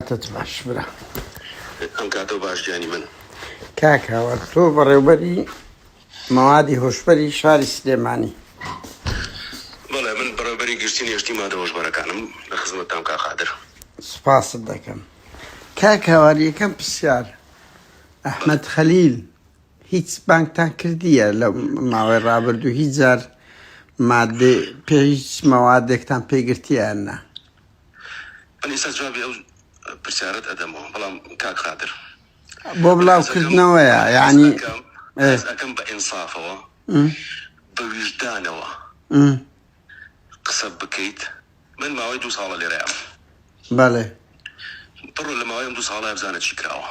کاتت باش برا. ئەم کاتەو باش گیانی من. کاک هاوار تۆ بەڕێوبەری مەوادی هۆشبەری شاری سلێمانی. بەڵێ من بەڕێوبەری گشتی نێشتنی مادە هۆشبەرەکانم لە خزمەتتام کاک قادر. سپاست دەکەم کاک هاوار یەکەم پرسیار ئەحمەد خەلیل هیچ بانگتان کردیە لە ماوەی ڕابردوو هیچ جار مادەی پێ هیچ مەوادێکتان پێ گرتیە یان نا؟ من ئیستا جوابی ئەو پرسیارت ئەدەمەوە بەڵام کاک قادر بۆ بڵاوکردنەوەیە یعنی ئەکەم بە ئینسافەوە بە ویژدانەوە قسە بکەیت من ماوەی دوو ساڵە لێرەیە بەڵێ بڕۆ لە ماوەی ئەم دوو ساڵە بزانە چی کراوە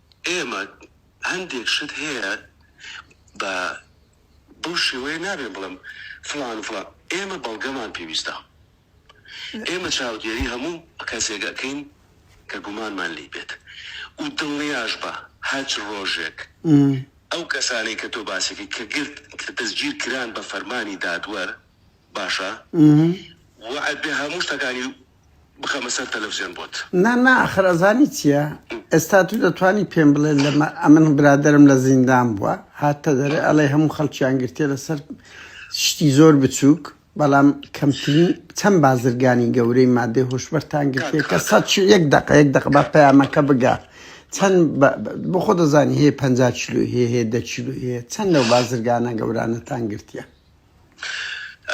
ئێمە هەندێک شت هەیە بە بەو شێوەیە نابێ بڵێم فڵان و فڵان ئێمە بەڵگەمان پێویستە ئێمە چاودێری هەموو کەسێک ئەکەین کە گومانمان لێی بێت و دڵنیاش بە هەچ ڕۆژێک ئەو کەسانەی کە تۆ باسی ئەکەی کە گرت کە دەستگیر کران بە فەرمانی دادوەر باشە وەعد بێ هەموو شتەکانی بخەمە سەر تەلەفزیۆن بۆت. نا نا ئاخر ئەزانی چیە ئێستا تو دەتوانی پێم بڵێ لە مە ئەمن برادەرم لە زیندان بوە هاتتە دەرێ ئەڵێی هەموو خەڵکیان گرتیە لە سەر شتی زۆر بچوک بەڵام کەمترین چەند بازرگانی گەورەی مادەی هۆشبەرتان کاک گرتیە کە سەد کاکە یەک دەقە یەک دەقە با پەیامەکە بگا چەند بە بە بۆ خۆ دەزانی هەیە پەنجا کیلۆی هەیە هەیە دە کیلۆی هەیە چەند لەو بازرگانە گەورانەتان گرتیە.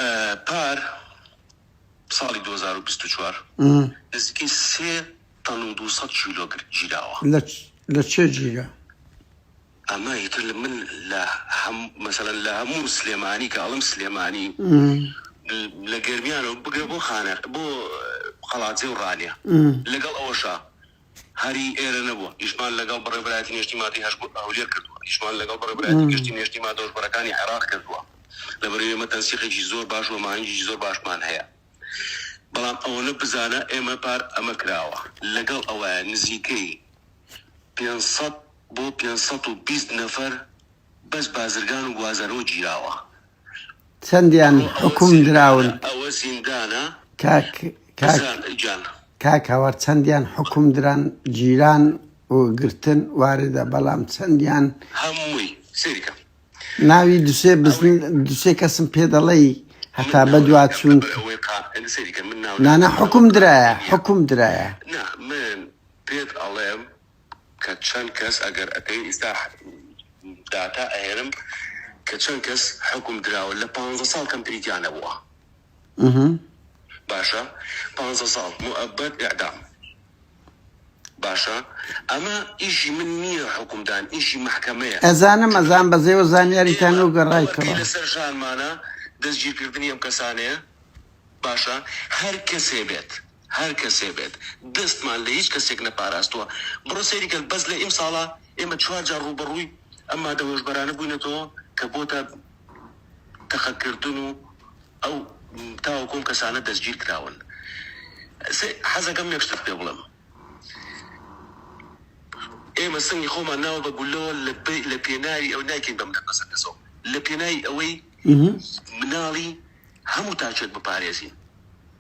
ە پار. ساڵی دوو هەزار و بیست و چوار نزیکەی سێ تەن و دوو سەد کیلۆ گرت گیراوە. لە لە کێ گیرا؟ ئەمە ئیتر لە من لە هەم مەسەلەن لە هەموو سلێمانی کە ئەڵم سلێمانی لە گەرمیانەوە بگرە بۆ خانە بۆ قەڵادزێ و ڕانیە لەگەڵ ئەوەشە هەری ئێرە نەبوون، ئیشمان لەگەڵ بەڕێوبەرایەتی نێشتی مادەی هەشت بۆ هەولێر کردووە، ئیشمان لەگەڵ بەڕێوبەرایەتی گشتی نێشتی مادە هۆشبەرەکانی عێراق کردووە، لەبەرئەوەی ئێمە تەنسیقێکی زۆر باش و ئەماهەنگێکی زۆر باشمان هەیە، بەڵام ئەوەنە بزانە ئێمە پار ئەمە کراوە لەگەڵ ئەوەی نزیکەی پێنج سەد بۆ پێنج سەد و بیست نەفەر بەس بازرگان و گوازەرەوە گیراوە، چەندیان حوکم دراون کاک کاک هاوار چەندیان حوکم دران جیران و گرتن واردە بەڵام چەندیان هەمووی سیرکە ناوی دوسێ دوسێ کەسم پێ دەڵی هەتا بەدوا چوون نانە حکم درایە حکم درایە پێت ئەڵێم کە چەند کەس ئەگەر ئەکەوێ ئیستا داتا ئەهێنم کە چەند کەس حوکم دراوە لە پانزە ساڵ کەمتری تیا نەبووە باشە پانزە ساڵ موئەبەد ئیعدام باشە ئەمە ئیشی من نییە حوکمدان ئیشی مەحکەمەیە ئەزانم ئەزان بەزێوە زانیاریتان و گەڕایتەوە لەسەر ژانمانە دەستگیرکردنی ئەم کەسانەیە باشە هەر کەسێ بێت هەر کەسێ بێت دەستمان لە هیچ کەسێک نەپاراستووە بڕۆ سەیری کەن بەس لە ئیمساڵا ئێمە چوار جار ڕووبەڕووی ئەم مادە هۆشبەرانە بووینەتەوە کە بۆتە تەقە کردن و ئەو تاوەکو ئەم کەسانە دەستگیر کراون سێ حەزەکەم یەک شتت پێ بڵێم ئێمە سنگی خۆمان ناوە بە گولەوە لە بە لە پێناوی ئەو نایکەین بەم نەفەسە کەسەوە لە پێناوی ئەوەی مناڵی هەموو تاچێک بپارێزین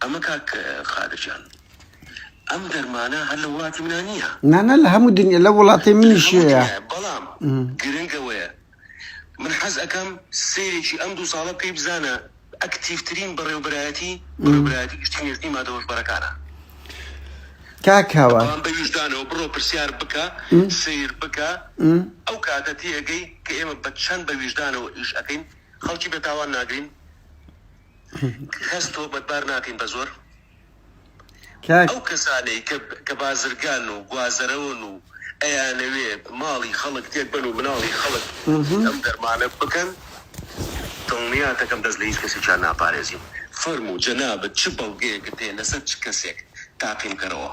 ئەمە کاک قادر جان ئەم دەرمانە هەر لە وڵاتی منا نییە؟ نا نا لە هەموو دنیا لە وڵاتی منیش هەیە بەڵام گرنگ ئەوەیە من حەز ئەکەم سەیرێکی ئەم دوو ساڵە بکەی بزانە ئەکتیڤترین بەڕێوبەرایەتی بەڕێوبەرایەتی گشتی نێشتنی مادە هۆشبەرەکانە کاک هاوار بەڵام بە ویژدانەوە بڕۆ پرسیار بکە سەیر بکە ئەو کاتە تێئەگەی کە ئێمە بە چەند بە ویژدانەوە ئیش ئەکەین خەڵکی بە تاوان ناگرین. کەس تۆمەتبار ناکەین بە زۆر کاک ئەو کەسانەی کە کە بازرگان و گوازەرەوەن و ئەیانەوێ ماڵی خەڵک تێک بەن و مناڵی خەڵک ئەم دەرمانە بکەن دڵنیات دەکەم دەست لە هیچ کەسێکیان ناپارێزین فەرموو جەنابت چ بەڵگەیەکت هەیە لەسەر چ کەسێک تاقی بکەرەوە.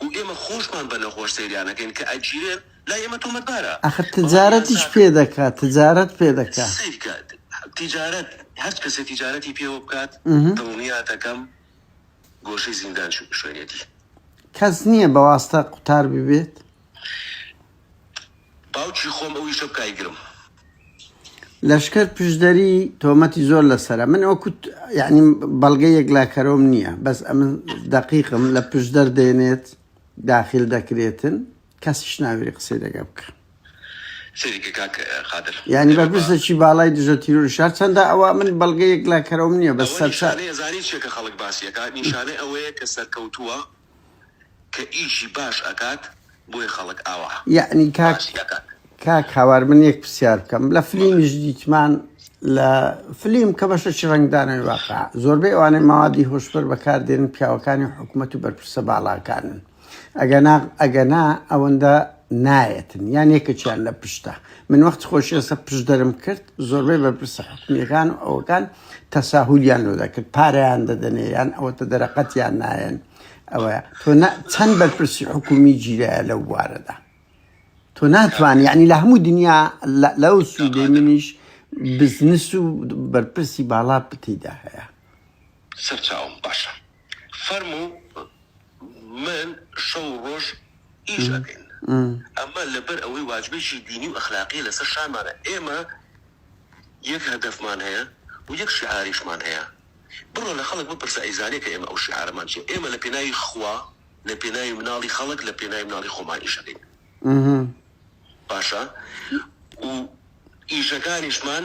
گو ئێمە خۆشمان بە نەخۆش سەیریانەکەین کە ئەگیرێن لای ئێمە تۆمەتبارە ئاخر تجارەتیش پێ دەکا تجارەت پێ دەکا. سەیرکە تیجارەت هەرچ کەسێ تیجارەتی پێوە بکات دڵنیاتەکەم گۆشەی زیندان شوێنێتی. کەس نیە بەواستە قوتار ببێت؟ باوکی خۆم ئەوی شەب کای گرم. لەشکەر پشدەری تۆمەتی زۆر لەسرە من ئەو کوت یعنی بەڵگە یەکلاکەرۆم نییە بەس ئەمن دقیقم لە پشدەر دێنێت داخل دەکرێتن کەسیش ناوێری قسەی دەگە بکە ینی بە پرسە چی باڵای دژە تیرور شار چەندە ئەوە من بەڵگە یەکلاکەرۆم نییە بە سەر نیشانەی ئەوەیە کە سەرکەوتووە کە ئیشی باش ئەکات بۆیە خەڵک ئاوا یەعنی کاک باسی ئەکات. کاک هاوار من یەک پرسیار بکەم لە فلیمیش دیتمان لە فلیم کە بەشەکی ڕەنگدانەوەی واقع زۆربەی ئەوانەی مەوادی هۆشبەر بەکاردێنن پیاوەکانی حکومەت و بەرپرسە باڵاکانن ئەگەنا ئەگەنا ئەوەندە نایەتن یان یەکەکیان لە پشتە من وەخت خۆشیێسە پشدەرم کرد زۆربەی بەرپرسە حکومیەکان و ئەوەکان تەساهولیان لۆ دەکرد پارەیان دەدەنێ یان ئەوەتە دەرەقەتیان نایەن ئەوە تۆ چەند بەرپرسی حکومی جیرایە لەو بوارەدا تۆ ناتوانانی یعنی لە هەموو دنیا لەو سوودێ منیش بزنس و بەرپرسی باڵا پتیدا هەیە سەرچاوم باشە فەرموو من شەو و ڕۆژ ئیش ئەکەین ئەمە لەبەر ئەوەی واجبێکی دینی و ئەخلاقیە لەسەر شانمانە ئێمە یەک هەدەفمان هەیە و یەک شیعاریشمان هەیە بڕۆ لە خەڵک بپرسە ئەیزانێ کە ئێمە ئەو شیعارەمان چیە ئێمە لە پێناوی خوا لە پێناوی مناڵی خەڵک لە پێناوی مناڵی خۆمان ئیش ئەکەین باشە و ئیشەکانیشمان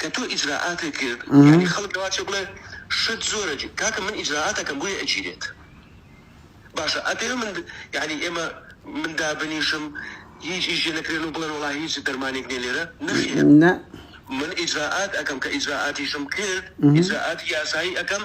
کە تۆ ئیجرائاتێک کرد یانی خەڵک لەوە چێ بڵێ شت زۆرە جی کاکە من ئیجرائاتەکەم بۆیە ئەگیرێت باشە ئەپێ من یانی ئێمە من دابنیشم هیچ ئیش لێ نەکرێن و بڵێن وەڵا هیچ دەرمانێک نیە لێرە نەخێر نە من ئیجرائات ئەکەم کە ئیجرائاتیشم کرد ئیجرائاتی یاسایی ئەکەم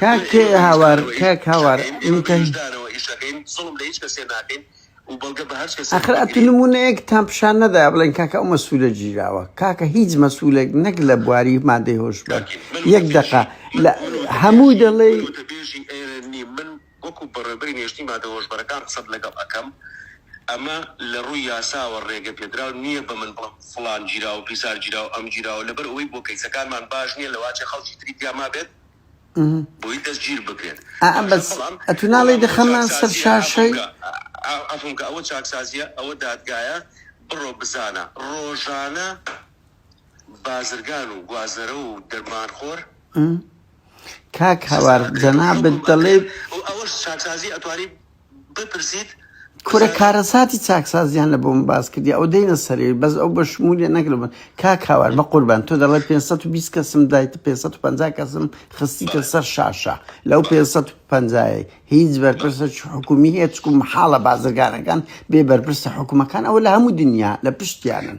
کاک هاوار کاک هاوار ئەخر ئەتو نمونەیەک تام پیشان نەدا بڵێن کاکە ئەو مەسوولە گیراوە کاکە هیچ مەسوولێک نەک لە بواری مادەی هۆشبەر یەک دقە لە هەموو دەڵێ وەکو بەڕێوبەری نێشتنی مادە هۆشبەرەکان قسەت لەگەڵ ئەکەم ئەمە لەڕووی یاساوە ڕێگە پێدراو نییە بەمن بڵێن فڵان گیراوە پیسار گیراوە ئەم گیراوە لەبەر ئەوەی بۆ کەیسەکانمان باش نییە لەواچێ خەڵکی تری تیا مابێت بۆی دەستگیر بکرێت بەڵام عەفوم کە ئەوە چاکسازییە ئەوە دادگایە بڕۆ بزانە ڕۆژانە بازرگان و گوازەرە و دەرمانخۆر. کاک هاوار جەنابت دەڵێیت. و ئەوەش چاکسازی ئەتوانی بپرسیت. کورە کارەساتی چاکسازیان لە بۆم باس کردی ئەو دێنە سەرەوەی بەس ئەو بە شمولی نەک لە بن کاک هاوار بە قوربان تۆ دەڵێ 520 کەسم دایت 550 کەسم خستیتە سەر شاشە لەو 550 هیچ بەرپرسە حکومی هەیە چکو محاڵە بازرگانەکان بێ بەرپرسە حکومەکان ئەوە لە هەموو دنیا لە پشتیانن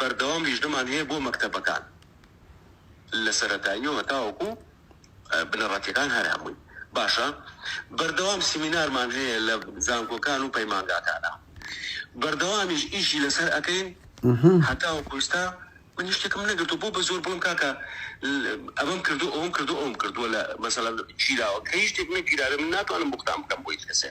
بەردەوام لیژنەمان هەیە بۆ مەکتەبەکان لە سەرەتاییەوە تاوەکو بنەڕەتیەکان هەر هەمووی باشە بەردەوام سیمینارمان هەیە لە زانکۆکان و پەیمانگاکانە بەردەوامیش ئیشی لەسەر ئەکەین هەتاوەکو ئیستا من هیچ شتێکم نەگرتو بۆ بە زۆر بڵم کاکە ئەمەم کردو ئەوم کردو ئەوم کردوە لە مەسەلەن گیراوە کە هیچ شتێک نەگیراوێ من ناتوانم بوختان بکەم بۆ هیچ کەسێ.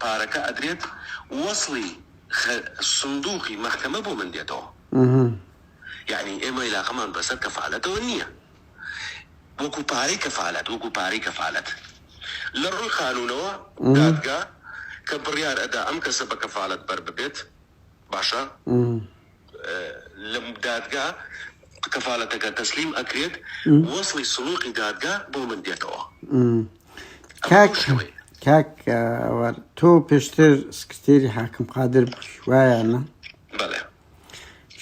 پارەکە ئەدرێت وەسڵی خە سندوقی مەحکەمە بۆ من دێتەوە یەعنی ئێمە ئیلاقەمان بەسەر کەفالەتەوە نیە وەکو پارەی کەفالەت وەکو پارەی کەفالەت لەڕوی قانونەوە دادگا کە بڕیار ئەدا ئەم کەسە بەکەفالەت بەرببێت باشە لە دادگا کەفالەتەکە تەسلیم ئەکرێت وەسڵی سڵوقی دادگا بۆ من دێتەوە کاک کاک تۆ پێشتر سکرتێری حاکم قادر وایانە بەڵێ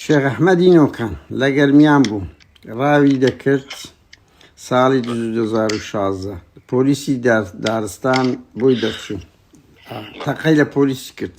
شێخ ئەحمەدی نۆکان لە گەرمیان بوو ڕاوی دەکرد ساڵی 2016 پۆلیسی دارستان بۆی دەرچوو تەقەی لە پۆلیسی کرد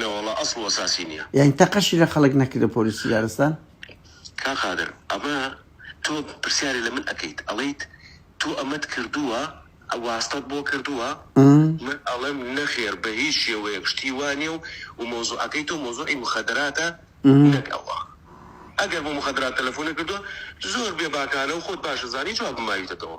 نەوەڵا ئەسڵ وەساسی نیە. یانی تەقەشی لە خەڵک نەکردە پۆلیسی دارستان؟ کاک قادر ئەمە تۆ پرسیارێ لە من ئەکەیت ئەڵێیت تۆ ئەمەت کردووە واستەت بۆ کردووە من ئەڵێم نەخێر بە هیچ شێوەیەک شتی وا نیە و و مەوزوعەکەی تۆ مەوزوعی مخەدراتە نەک ئەوە ئەگەر بۆ مخەدرات تەلەفۆنت کردووە زۆر بێباکانە و خۆت باش ئەزانی جوابم ماویتەتەوە.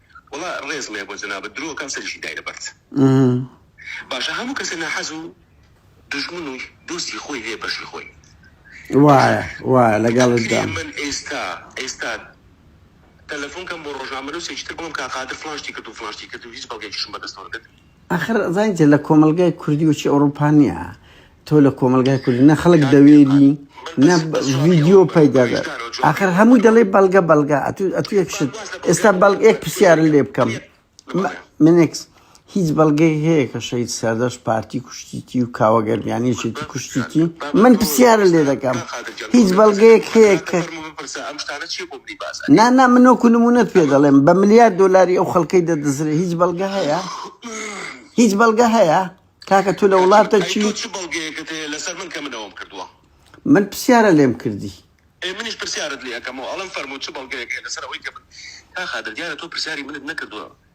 وەڵا ڕێز ڵێ بۆ جەنابت درۆ کەم سەریشی دای لەبەرد باشە هەموو کەسێ ناحەز و دژمن و دۆستی خۆی هەیە بەشی خۆی وایە وایە لەگەڵدا من ئێستا ئێستا تەلەفۆن کەم بۆ ڕۆژنامە نووسێکی تر بڵم کا قادر فلان شتی کرد و فلان شتی کرد و هیچ بەڵگەیەکیشم بەدەستەوە نەبێت ئاخر زانیتە لە کۆمەلگای کوردی وەچی ئەوڕوپا نییە تۆ لە کۆمەلگای کوردی نە خەڵک دەوێری نە ڤیددیو پەیدادە ئاخر هەمووی دەڵێ بەڵگە بەڵگە ئەتو یەک شت ئێستا بەڵگ یەک پرسیار لێ بکەم منێکس هیچ بەڵگەی هەیە کە شەید سەردەش پارتی کوشتیتی و کاوەگەردیانیشی کوشتیتی من پرسیارە لێ دەکەم هیچ بەڵگەیەک هەیە کە نا نا من وەکو نمونەت پێ دەڵێم بە ملیار دلاری ئەو خەڵکەی دەدزرێ هیچ بەڵگە هەیە هیچ بەڵگە هەیە کاکە تو لە وڵاتە چی من پرسیارە لێم کردی منیش پرسیارت لێ ئەەکەمەوە ئەڵم فەرمو چ بەڵگەیەک لەسەر ئەوەی کە من تا خادر دیارە تۆ پرسیاری منت نەکردووە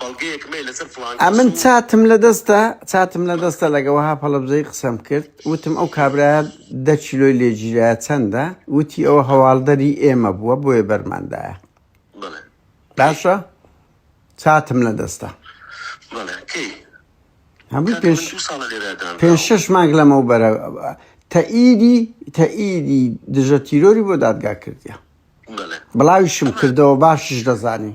بەڵگەیەک مەی لەسەر فڵان کەس ئەمن و چاتم لە دەستە چاتم لە دەستە لەگە وەها پەڵەبزەی قسەم کرد وتم ئەو کابرایە دە کیلۆی لێگیرایە چەندە وتی ئەوە هەواڵدەری ئێمە بووە بۆیە بەرماندایە بڵێ کەی باشە چاتم لە دەستە بڵێ کەی هەمووی کاکە من پێش دوو ساڵە لێرە پێنج دانراوم شەش مانگ لەمەو بەرە تەئیدی تەئیدی دژە تیرۆری بۆ دادگا کردیە بڵێ بڵاویشم ئەمە کردەوە باشیش دەزانی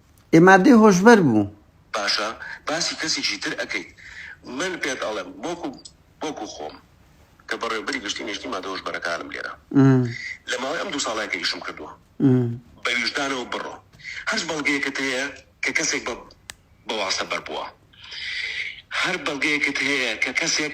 ئێ مادەی هۆشبەر بوو. باشە باسی کەسیکی تر ئەکەیت من پێت ئەڵێم وەکو وەکو خۆم کە بەڕێوبەری گشتی نیشتی مادە هۆشبەرەکانم لێرە لە ماوەی ئەم دوو ساڵە کە ئیشم کردووە بە ویژدانەوە بڕۆ هەرچ بەڵگەیەکت هەیە کە کەسێک بە بە واستە بەر بووە هەر بەڵگەیەکت هەیە کە کەسێک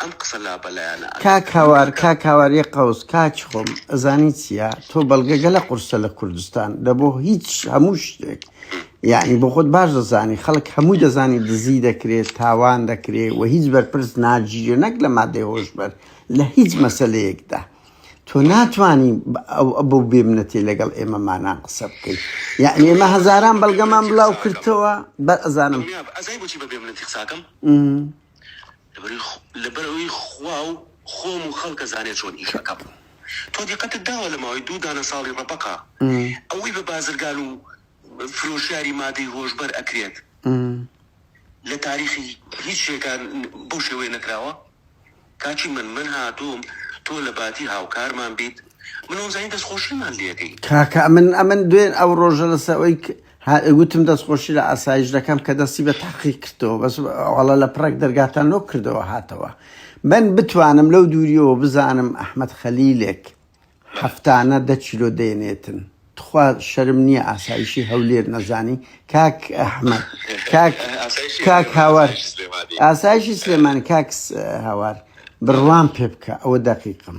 ئەم قسە لابەلایانە کاک ئەکەن هاوار کاکە کاک هاوار یە قەوس کاچ خۆم ئەزانی چییە تۆ بەڵگە گەلە قورسە لە کوردستان دە بۆ هیچ هەموو شتێک یعنی بۆ خۆت باش دەزانی خەڵک هەمووی دەزانی دزی دەکرێت تاوان دەکرێت و هیچ بەرپرس ناگیرێ نەک لە مادەی هۆشبەر لە هیچ مەسلەیەکدا تۆ ناتانی ئەو ئەبوو بێمنەتی لەگەڵ ئێمەمانان قسە بکەیت یعنی ئێمە بەس هەزاران بەڵگەمان بەبێمنەتی بڵاو قساکەم کردەوە بە ئەزانم بەبێمنەتی قساکەم م. لەبەر ئەوەی خوا و خۆم و خەڵک ئەزانێ چۆن ئیش ئەکەم تۆ دیقەتت داوە لە ماوەی دوو دانە ساڵی ڕەبەقە ئەوەی بە بازرگان و فرۆشیاری مادەی هۆشبەر ئەکرێت لە تاریخی هیچ شێکان بەو شێوەیە نەکراوە کاچی من من هاتووم تۆ لە باتی هاوکارمان بیت من ئەوزانی دەستخۆشیمان لێکەی کاکە من ئەمن دوێن ئەو ڕۆژە لەسەر ئەوەی هەر گوتم دەست خۆشی لە ئاسایش دەکەم کە دەستی بە تحقیق کردەوە بەس ئەڵە لە پڕێک دەرگاتان لۆ کردەوە هاتەوە من بتوانم لەو دووریەوە بزانم ئەحمد خەلیلێک هەفتانە دە چیلۆ دێنێتن تخوا شەرم نییە ئاسایشی هەولێر نەزانی کاک ئەحمد کاک کاک هاوار ئاسایشی سلێمان کاکس هاوار بڕوان پێ بکە ئەوە دەقیقم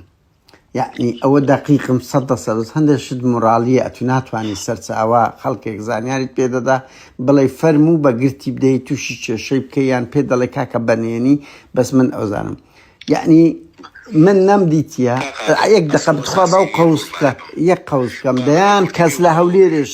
یەعنی ئەوە دەقیقم سەد دە سەرز هەندێک شت مورالیە ئەتو ناتوانانی سەرچاوە خەڵکێک زانیاریت پێدەدا بڵێ فەرموو بە گرتی بدەیت تووشی کێشەی بکە یان پێ دەڵێ کاکە بەنێنی بەس من ئەوزانم یعنی من نەمدیتە یەک دەخە بخوا بەو قوسکە یەک قوسکەم دەیان کەس لە هەولێرش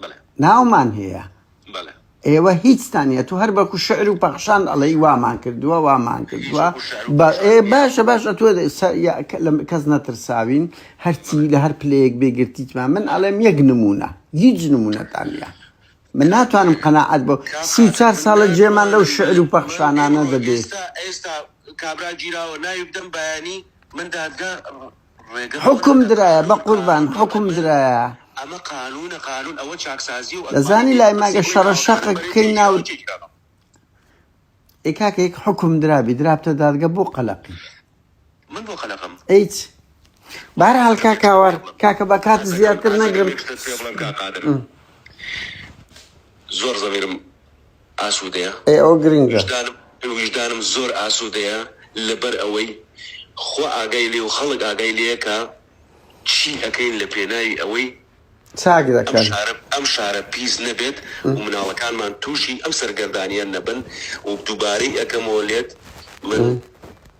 بەڵێ. ناومان هەیە. بەڵێ. ئێوە هیچتان نیە تۆ هەر بەکو شعر و پەخشان ئەڵێی وامان کردووە وامان کردووە بە ئێ باشە باشە تۆ کەس نەترساوین هەرچی لە هەر پلەیەک بێگرتیتمان من ئەڵێم یەک نمونە هیچ نمونەتان نیە من ناتوانم قەنەعەت بۆ سی و چار ساڵە جێمان لەو شعر و پەخشانانە دەبێت ئێستا کابرا گیراوە ناوی بدەم بەیانی من دادگا حوکم درایە بەقوربان حوکم درایە ئەمە قانونە قانون ئەوە چاکسازی و دەزانی لای ماگە شەڕە شەقە بکەین ناو ئێ کاکە یەک حکم درابی درابتە دادگە بۆ قەلەقی من بۆ قەلەقم ئەیچ بار هەڵکا کاوار کاکە بە کات زیاتر نەگرم زۆر زەمیرم ئاسوودەیە؟ ئەی ئەوە گرنگە. ویژدانم زۆر ئاسوودەیە لەبەر ئەوەی خوا ئاگای لێیە و خەڵک ئاگای لێیە کە چی ئەکەین لە پێناوی ئەوەی چاک دەکەن. ئەم شارە پیس نەبێت و مناڵەکانمان تووشی ئەم سەرگەردانیە نەبن و دووبارەی ئەکەمەوە لێت من.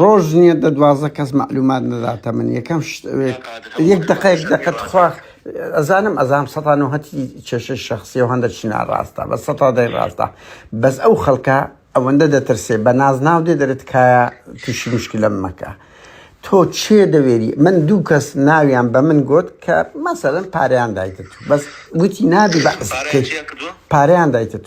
ڕۆژ نیە دە دوازدە کەس مەعلومات نەداتە من یەکەم شت ئەوێت یەک دقەیەک دەقە تخوا ئەزانم ئەزام سەتا نوهەتی کێشەی شخصی و هەندە چی ناڕاستە بە سەتا دەی ڕاستە بەس ئەو خەڵکە ئەوەندە دەترسێ بە ناز ناو دێ دەرێت کایە تووشی مشکلە مەکە تۆ چێ دەوێری من دوو کەس ناویان بە من گوت کە مەسەرن پاریان دایتت بەس گوتی نابی بە پاریان دایتت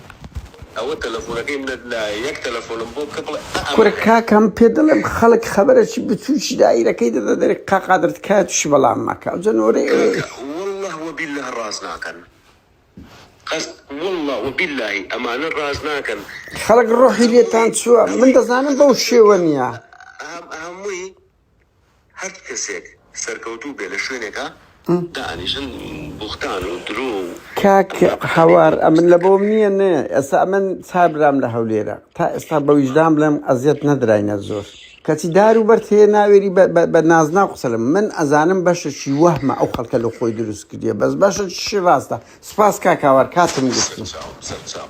کورە کاکەم پێت دەڵێم خەڵک خەبەرەچی بچوکی دایرەکەی دەدە دەرێ کا قادر تکایە توشی بەڵام مەکە ئەوجە نۆرەی ئەوێ خەڵک ڕۆحی لێتان چوە من دەزانم بەو شێوە نیە. هەر کەسێک سەرکەوتوو بێ لە شوێنێکا دائەنیشن بوختان و درۆ و. کاک هاوار ئەمن لە بۆم نییە نێ ئێستا ئەمن چار برام لە هەولێرە تا ئێستا بە ویژدان بڵێم ئەزیەت نەدراینە زۆر کەچی دار و بەرد هەیە ناوێری بە- بە- بە نازناو قسە لەم من ئەزانم بەشەشی وەهمە ئەو خەڵکە لە خۆی دروست کردیە بەس بەشەشی ڕاستە سپاس کاک هاوار کاتم گرتی سەرچاو سەرچاو.